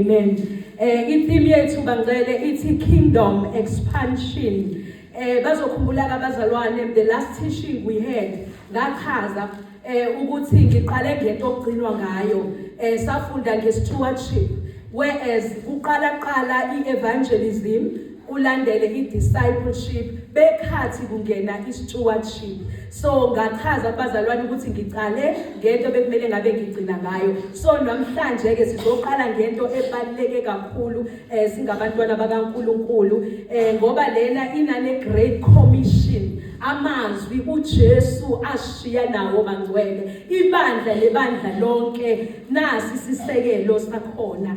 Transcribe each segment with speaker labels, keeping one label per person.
Speaker 1: Amen. Eh i-theme yethu bangcele ithi kingdom expansion. Eh bazokhumbula abazalwane the last teaching we had ngachaza eh ukuthi ngiqale ngento okugcinwa ngayo. Eh safunda nge-stewardship whereas kuqala qala i-evangelism kulandele i-discipleship bekhathi kungena i-stewardship so ngachaza kubazalwane ukuthi ngiqale ngento bekumele ngabe ngigcina ngayo so namhlanje-ke sizoqala ngento ebaluleke kakhulu um singabantwana bakankulunkulu um ngoba lena inane-great commission amazwi uJesu ashiya nawo mangcwele ibandla lebandla lonke nasi sisekelo sakhona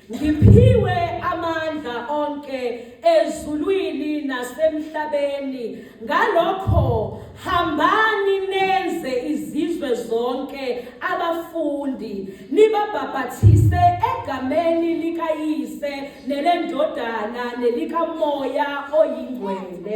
Speaker 1: Ngiphiwe amandla onke ezulwini nasemhlabeni ngalokho hambani nenze izizwe zonke abafundi nibabhabhathise egameni likayise nelendodana nelikamoya oyingcwele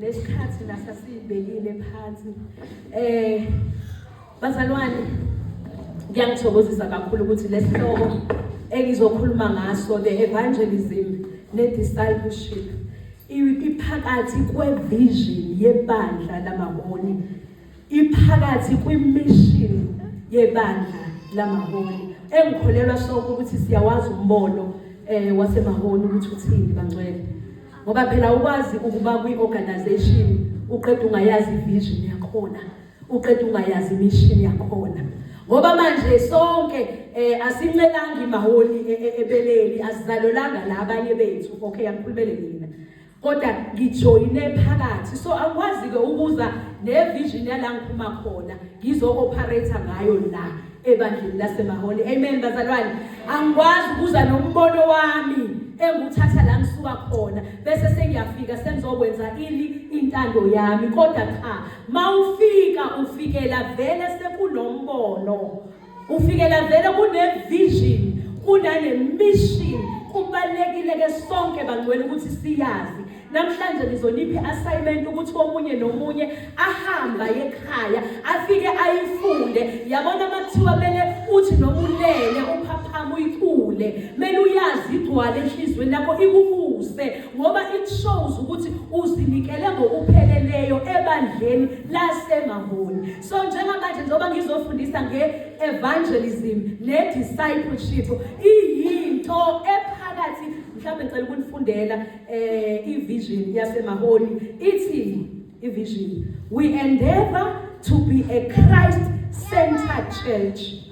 Speaker 1: nesikhathi nasa siyibekile phansi eh bazalwane ngiyangithokozisa kakhulu ukuthi lesihloko engizokhuluma ngaso the evangelism ne discipleship iphakathi kwevision yebandla lamaholi Iphakathi kwimishini yebandla lamaholi engikholelwa sonke ukuthi siyawazi umbono eh wasemaholi ukuthi uthini bangcwele ngoba phela ukwazi ukuba kwi-organization uqeda ungayazi ivision yakhona uqeda ungayazi imission yakhona ngoba manje sonke eh asincelanga imaholi e, e, ebeleni asizalolanga la abanye bethu okay angikhulumele mina kodwa ngijoyine phakathi so angikwazi-ke ukuza nevision yala ngiphuma khona ngizo-operator ngayo la ebandleni lasemaholi amen bazalwane angikwazi ukuza nombono wami enguthatha la ngisuka khona bese sengiyafika sengizokwenza ini intando yami kodwa cha mawufika ufikela vele sekunombono Ufikela vele kunevision kunanemission kubalekile ke sonke bangcwele ukuthi siyazi namhlanje ngizoniphi assignment ukuthi komunye nomunye ahamba ekhaya afike ayifunde yabona makuthiwa mele uthi noma ulele uphaphama uyicule mele uyazi igcwale enhlizweni yakho ikubuse ngoba it shows ukuthi uzinikele ngokupheleleyo ebandleni lasemahoni So njengamanje njengoba ngizofundisa nge-evangelism ne-discipleship iyinto ephakathi mhlawumbe ngicela ukunifundela um eh, i-vision yasemaholi ithi i-vision we endeavor to be a christ centered church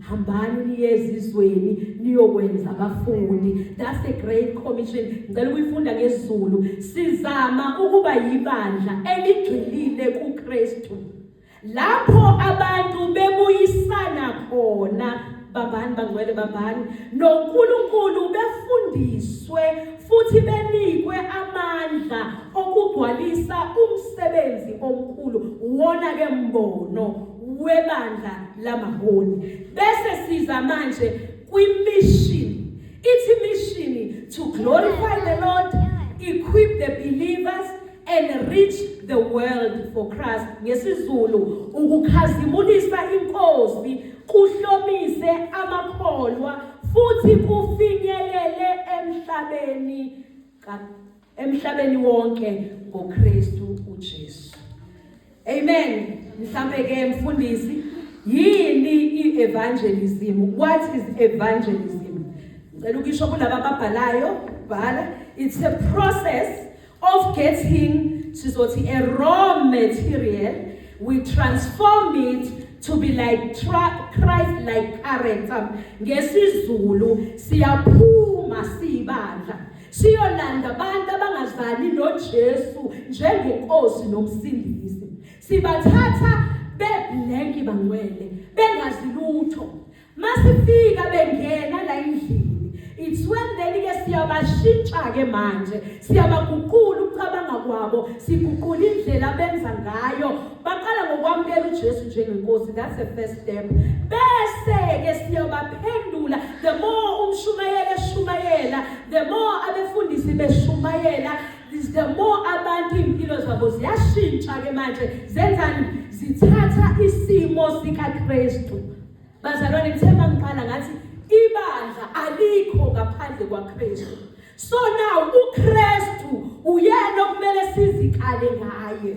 Speaker 1: hambani niye ezizweni niyokwenza abafundi that's a great commission ngicela ukuyifunda ngesizulu sizama ukuba yibandla eligxilile kuKristu lapho abantu bebuyisana khona babani bangcwele babani noNkulunkulu befundiswe futhi benikwe amandla okugcwalisa umsebenzi omkhulu wona ke mbono webandla lamaholi bese siza manje kwi-mission ithi mission to glorify the lord equip the believers and reach the world for christ ngesizulu ukukhazimulisa inkosi kuhlomise amakholwa futhi kufinyelele emhlabeni emhlabeni wonke ngoKristu uJesu amen mhlambe ke mfundisi yini i-evangelism what is evangelism ngicela ukisho kulaba ababhalayo bhala it's a process of getting sizothi a raw material we transform it to be like Christ like character ngesizulu siyaphuma sibandla Siyolanda abantu abangazani noJesu njengenkosi nomsindisi. Sibathatha beblanki bangcwele bengazi lutho. Masifika bengena la endlini. It's when then ke siyabashintsha ke manje. Siyabaguqula ukucabanga kwabo, siguqula indlela benza ngayo baqala ngokwamukela uJesu njengenkosi that's the first step bese ke siyabaphendula the more umshumayela eshumayela the more abefundisi beshumayela is the more abantu impilo zabo ziyashintsha ke manje zenzani zithatha isimo sikaKristu bazalwane ngithe mangiqala ngathi ibandla alikho ngaphandle kwaKristu so now uKristu uyena okumele sizikale ngaye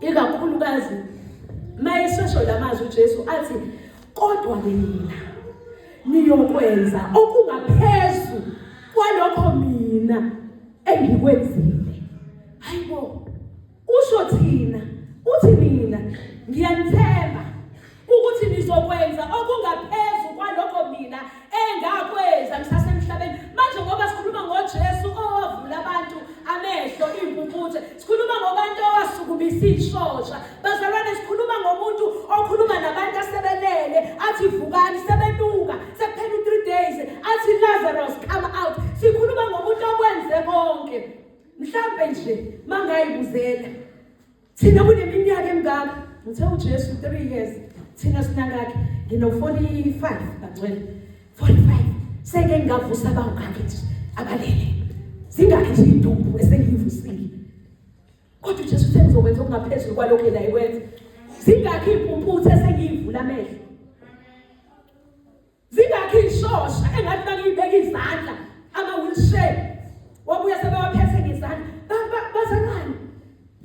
Speaker 1: ikakhulukazi mayesesho lamazwi uJesu athi kodwa ke nina niyokwenza okungaphezulu kwalokho mina engikwenzile hayibo usho thina uthi mina ngiyanithemba ukuthi nizokwenza okungaphezu kwalokho mina engakwenza ngisasemhlabeni manje ngoba sikhuluma ngoJesu owavula abantu amehlo impumputhe sikhuluma ngobantu owasukumisa ishosha bazalwane sikhuluma ngomuntu okhuluma nabantu asebelele athi vukani sebenuka sekuphela u3 days athi Lazarus come out sikhuluma ngomuntu okwenze konke mhlambe nje mangayibuzela thina kuneminyaka emingaka ngithe ujesu three years thina sinangakhe ngino-forty-five bangcwele forty-five seke ngingavusa abangakhe nje abalele zingakhe nje idumbu esengiyivusile kodwa ujesu uthe ngizokwenza okungaphezulu kwalokhu yena ikwenza zingakhe iy'mpumputhe esengiyivula amehlo zingakhi ishosha engathi bakuyibeka izandla ama wheelchair wabuya sebewaphethe ngezandla bazalwane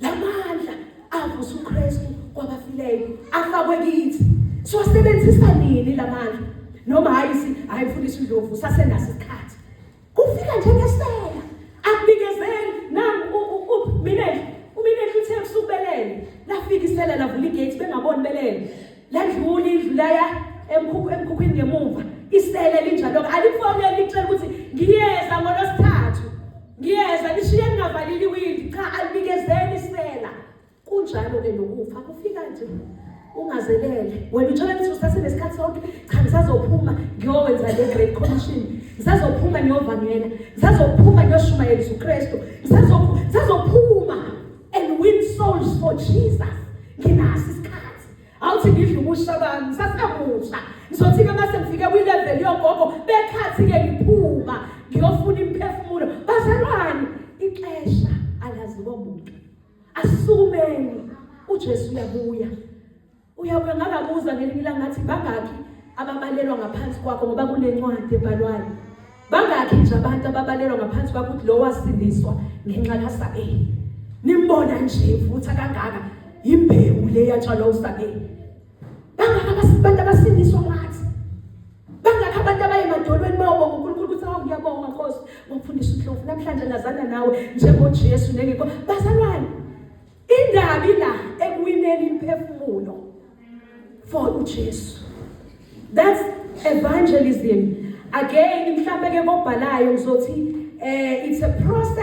Speaker 1: lamandla avusa uKristu kwabafileyo afakwe kithi siwasebenzisa nini lamandla noma hayi si hayi mfundisi uNdlovu sasenaso isikhathi Kufika nje ngesela. Akubikezeli nangu uminenhle. Uminenhle uthe kusubelele. Lafika isela lavula igate bengaboni belele. Ladlula indlu laya emkhukhu emkhukhwini ngemuva. Isela linjalo alifonele licela ukuthi ngiyeza ngolosithathu. Ngiyeza lishiye ningavalile iwindi cha alibikezeli isela. kunjalo ke nokufa kufika nje ungazelele wena uthola ukuthi usasenesikhathi sonke cha ngisazophuma ngiyowenza le great commission ngisazophuma ngiyovangela ngisazophuma ngiyoshumayelisa ukristu ngisazophuma and win souls for jesus nginaso isikhathi awuthi ngidla ubusha bami ngisasemusha ngizothi-ke uma sengifike kwi-level yogogo bekhathi-ke ngiphuma ngiyofuna imiphefumulo bazalwane ixesha alaziwa muntu Asisukumeni uJesu uyabuya. Uyabuya ngakabuza ngelinye ilanga ngathi bangaki ababalelwa ngaphansi kwakho ngoba kunencwadi ebhalwayo. Bangaki nje abantu ababalelwa ngaphansi kwakho ukuthi lo wasindiswa ngenxa kaSabeli. Nimbona nje futhi akangaka imbewu le yatshalwa uSabeli. bangaka abantu abasindiswa ngathi bangaka abantu abaye emadolweni bayoba uNkulunkulu ukuthi awu ngiyabonga Nkosi ngokufundisa uNhlovu namhlanje ngazana nawe njengoJesu nengikho bazalwane indaba ila ekuwineni imphefumulo for uJesu that's evangelism again mhlambe ke kobhalayo ngizothi eh it's a process